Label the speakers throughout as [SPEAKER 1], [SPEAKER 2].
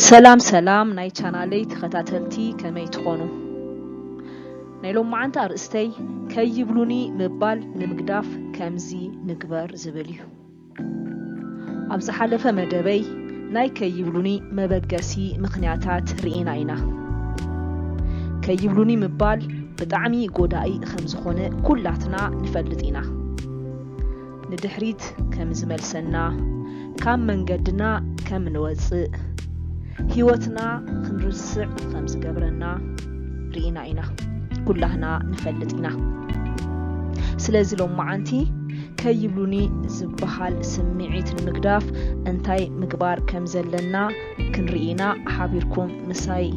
[SPEAKER 1] ሰላም ሰላም ናይ ቻናለይ ተኸታተልቲ ከመይ ትኾኑ? ናይ ሎማዓንቲ ኣርእስተይ ከይብሉኒ ምባል ንምግዳፍ ከምዚ ንግበር ዝብል እዩ። ኣብ ዝሓለፈ መደበይ ናይ ከይብሉኒ መበገሲ ምኽንያታት ርኢና ኢና። ከይብሉኒ ምባል ብጣዕሚ ጎዳኢ ከምዝኾነ ኩላትና ንፈልጥ ኢና። ንድሕሪት ከምዝመልሰና፣ ካብ መንገድና ከምንወፅእ፣ ህይወትና ክንርስዕ ከምዝገብረና ርኢና ኢና። ኩላህና ንፈልጥ ኢና። ስለዚ ሎማዓንቲ ከይብሉኒ ዝበሃል ስምዒት ንምግዳፍ እንታይ ምግባር ከም ዘለና ክንርኢ ኢና። ሓቢርኩም ምሳይ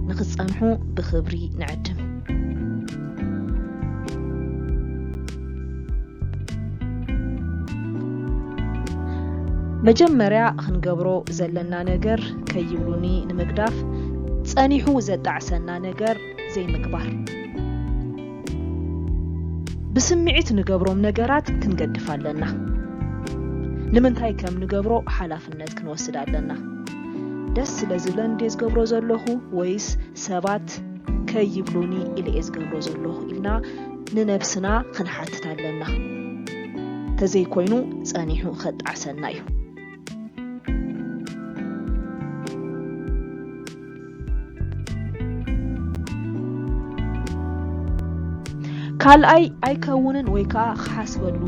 [SPEAKER 1] ንኽትጸንሑ ብኽብሪ ንዕድም። መጀመርያ ክንገብሮ ዘለና ነገር ከይብሉኒ ንምግዳፍ ጸኒሑ ዘጣዕሰና ነገር ዘይምግባር። ብስምዒት ንገብሮም ነገራት ክንገድፍ ኣለና። ንምንታይ ከም ንገብሮ ሓላፍነት ክንወስድ ኣለና። ደስ ስለ ዝብለኒ ድየ ዝገብሮ ዘለኹ ወይስ ሰባት ከይብሉኒ ኢለ እየ ዝገብሮ ዘለኹ ኢልና ንነብስና ክንሓትት ኣለና። ተዘይኮይኑ ጸኒሑ ከጣዕሰና እዩ። ካልኣይ ኣይከውንን ወይ ከዓ ክሓስበሉ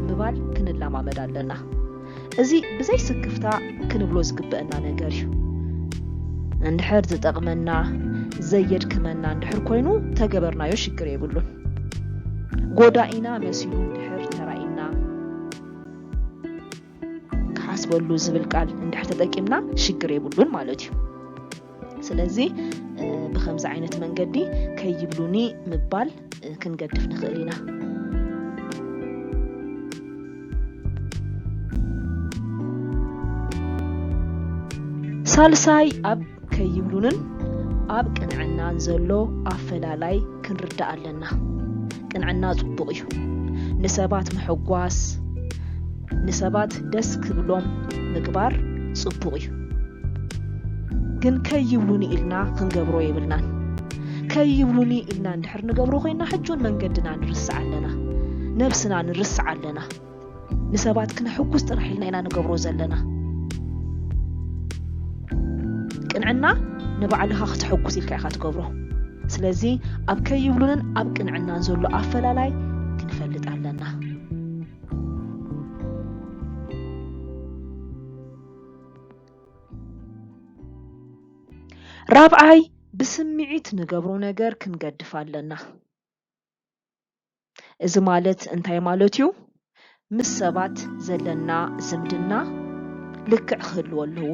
[SPEAKER 1] ምባል ክንለማመድ ኣለና እዚ ብዘይ ስክፍታ ክንብሎ ዝግበአና ነገር እዩ እንድሕር ዝጠቕመና ዘየድክመና እንድሕር ኮይኑ ተገበርናዮ ሽግር የብሉን ጎዳኢና መሲሉ እንድሕር ተራኢና ክሓስበሉ ዝብል ቃል እንድሕር ተጠቂምና ሽግር የብሉን ማለት እዩ ስለዚ ብከምዚ ዓይነት መንገዲ ከይብሉኒ ምባል ክንገድፍ ንኽእል ኢና ሳልሳይ ኣብ ከይብሉንን ኣብ ቅንዕናን ዘሎ ኣፈላላይ ክንርዳእ ኣለና። ቅንዕና ጽቡቕ እዩ። ንሰባት ምሕጓስ፣ ንሰባት ደስ ክብሎም ምግባር ጽቡቕ እዩ። ግን ከይብሉኒ ኢልና ክንገብሮ የብልናን። ከይብሉኒ ኢልና እንድሕር ንገብሮ ኮይና ሕጁን መንገድና ንርስዕ ኣለና፣ ነብስና ንርስዕ ኣለና። ንሰባት ክነሕጉስ ጥራሕ ኢልና ኢና ንገብሮ ዘለና። ቅንዕና ንባዕልኻ ክተሕጉስ ኢልካ ኢኻ ትገብሮ። ስለዚ ኣብ ከይብሉንን ኣብ ቅንዕናን ዘሎ ኣፈላላይ ክንፈልጥ ኣለና። ራብዓይ ብስምዒት ንገብሮ ነገር ክንገድፍ ኣለና። እዚ ማለት እንታይ ማለት እዩ? ምስ ሰባት ዘለና ዝምድና ልክዕ ክህልዎ ኣለዎ፣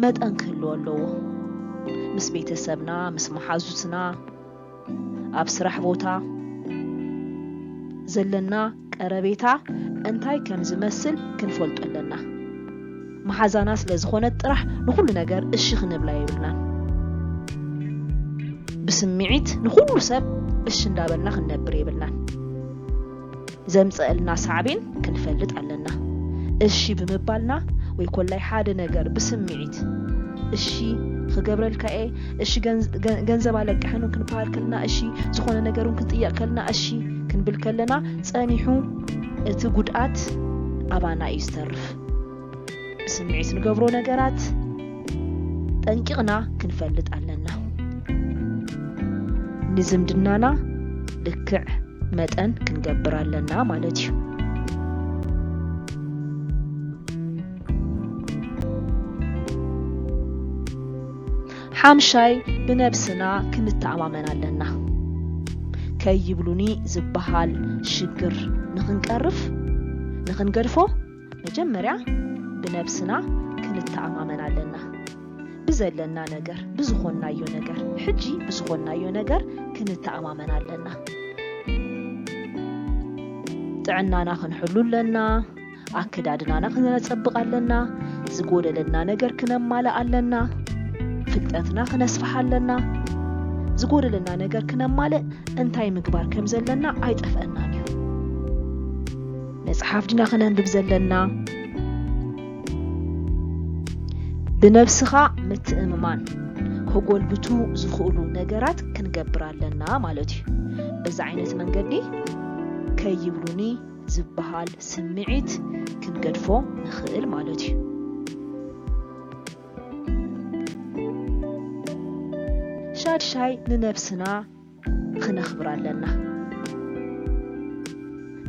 [SPEAKER 1] መጠን ክህልዎ ኣለዎ። ምስ ቤተሰብና፣ ምስ መሓዙትና፣ ኣብ ስራሕ ቦታ ዘለና ቀረቤታ እንታይ ከም ዝመስል ክንፈልጦ ኣለና። መሓዛና ስለ ዝኾነት ጥራሕ ንኹሉ ነገር እሺ ክንብላ የብልናን። ብስምዒት ንኹሉ ሰብ እሺ እንዳበልና ክንነብር የብልናን። ዘምፀእልና ሳዕቤን ክንፈልጥ ኣለና። እሺ ብምባልና ወይ ኮላይ ሓደ ነገር ብስምዒት እሺ ክገብረልካ እየ እሺ ገንዘብ ኣለቅሕን ክንበሃል ከለና እሺ ዝኾነ ነገር እውን ክንጥየቕ ከለና እሺ ክንብል ከለና ጸኒሑ እቲ ጉድኣት ኣባና እዩ ዝተርፍ ብስምዒት ንገብሮ ነገራት ጠንቂቕና ክንፈልጥ ኣለና ንዝምድናና ልክዕ መጠን ክንገብር ኣለና ማለት እዩ ሓምሻይ ብነብስና ክንተኣማመን ኣለና። ከይብሉኒ ዝበሃል ሽግር ንኽንቀርፍ፣ ንኽንገድፎ መጀመርያ ብነብስና ክንተኣማመን ኣለና። ብዘለና ነገር፣ ብዝኾንናዮ ነገር፣ ሕጂ ብዝኾንናዮ ነገር ክንተኣማመን ኣለና። ጥዕናና ክንሕሉ ኣለና። ኣከዳድናና ክነጸብቕ ኣለና፣ ዝጎደለና ነገር ክነማልእ ኣለና፣ ፍልጠትና ክነስፍሕ ኣለና። ዝጎደለና ነገር ክነማልእ እንታይ ምግባር ከም ዘለና ኣይጠፍአናን እዩ። መጽሓፍ ድና ክነንብብ ዘለና? ብነብስኻ ምትእምማን ከጎልብቱ ዝኽእሉ ነገራት ክንገብር ኣለና ማለት እዩ። በዚ ዓይነት መንገዲ ከይብሉኒ ዝበሃል ስምዒት ክንገድፎ ንኽእል ማለት እዩ። ሻድሻይ ንነብስና ኽነኽብራ ኣለና።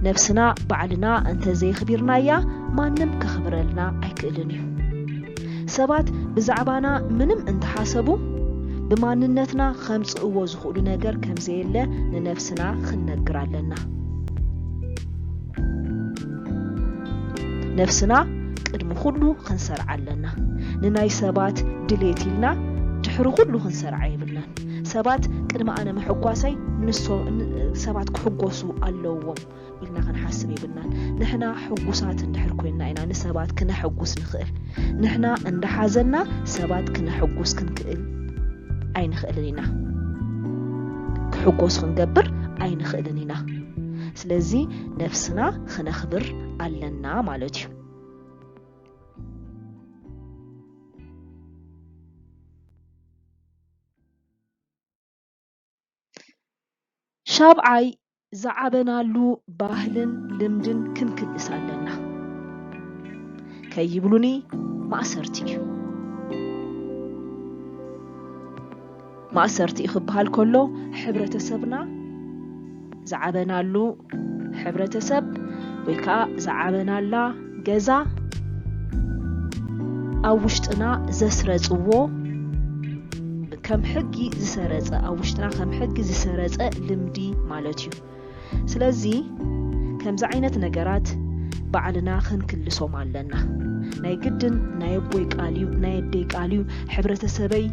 [SPEAKER 1] ነብስና ባዕልና እንተ ዘየኽቢርናያ ማንም ከኽብረልና ኣይክእልን እዩ። ሰባት ብዛዕባና ምንም እንተ ሓሰቡ ብማንነትና ኸምጽእዎ ዝኽእሉ ነገር ከም ዘየለ ንነብስና ኽንነግር ኣለና። ነፍስና ቅድሚ ኩሉ ክንሰርዓ ኣለና ንናይ ሰባት ድሌት ኢልና ድሕሪ ኩሉ ክንሰርዓ የብልናን ሰባት ቅድሚ ኣነ ምሕጓሰይ ሰባት ክሕጎሱ ኣለዎም ኢልና ክንሓስብ የብልናን ንሕና ሕጉሳት እንድሕር ኮይና ኢና ንሰባት ክነሕጉስ ንኽእል ንሕና እንዳሓዘና ሰባት ክነሕጉስ ክንክእል ኣይንኽእልን ኢና ክሕጎሱ ክንገብር ኣይንኽእልን ኢና ስለዚ ነፍስና ክነኽብር ኣለና ማለት እዩ ሻብዓይ ዝዓበናሉ ባህልን ልምድን ክንክልስ ኣለና ከይብሉኒ ማእሰርቲ እዩ። ማእሰርቲ እዩ ክበሃል ከሎ ሕብረተሰብና ዝዓበናሉ ሕብረተሰብ ወይ ከዓ ዝዓበናላ ገዛ ኣብ ውሽጥና ዘስረጽዎ ከም ሕጊ ዝሰረጸ ኣብ ውሽጥና ከም ሕጊ ዝሰረጸ ልምዲ ማለት እዩ ስለዚ ከምዚ ዓይነት ነገራት ባዕልና ክንክልሶም ኣለና ናይ ግድን ናይ ኣቦይ ቃል እዩ ናይ ኣደይ ቃል እዩ ሕብረተሰበይ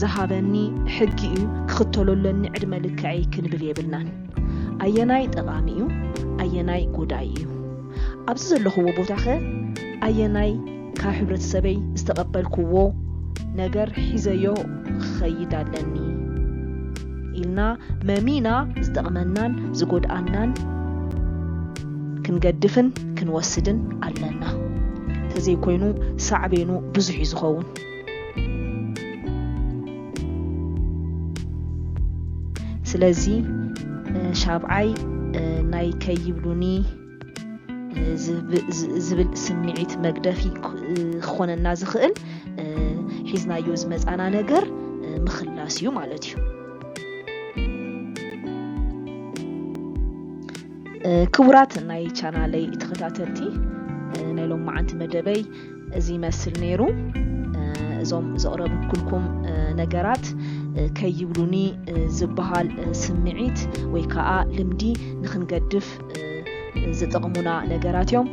[SPEAKER 1] ዝሃበኒ ሕጊ እዩ ክኽተሎ ኣለኒ ዕድመ ልክዐይ ክንብል የብልናን ኣየናይ ጠቓሚ እዩ ኣየናይ ጎዳይ እዩ ኣብዚ ዘለኹዎ ቦታኸ ኣየናይ ካብ ሕብረተሰበይ ዝተቐበልኩዎ ነገር ሒዘዮ ክኸይድ ኣለኒ ኢልና መሚና ዝጠቕመናን ዝጎድኣናን ክንገድፍን ክንወስድን ኣለና። ተዘይኮይኑ ሳዕቤኑ ብዙሕ እዩ ዝኸውን። ስለዚ ሻብዓይ ናይ ከይብሉኒ ዝብል ስምዒት መግደፊ ክኾነና ዝኽእል ሒዝናዮ ዝመፃና ነገር ምኽላስ እዩ ማለት እዩ ክቡራት ናይ ቻናለይ ተኸታተልቲ ናይ ሎም መዓንቲ መደበይ እዚ ይመስል ነይሩ እዞም ዘቕረብኩልኩም ነገራት ከይብሉኒ ዝበሃል ስምዒት ወይ ከዓ ልምዲ ንክንገድፍ ዝጠቕሙና ነገራት እዮም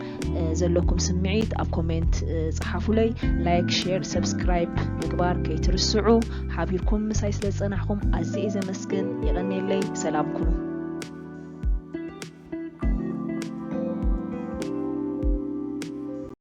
[SPEAKER 1] ዘለኩም ስምዒት ኣብ ኮሜንት ፀሓፉለይ ላይክ ሼር ሰብስክራይብ ምግባር ከይትርስዑ ሓቢርኩም ምሳይ ስለ ዝፀናሕኩም ኣዝየ ዘመስግን የቐኔለይ ሰላም ኩኑ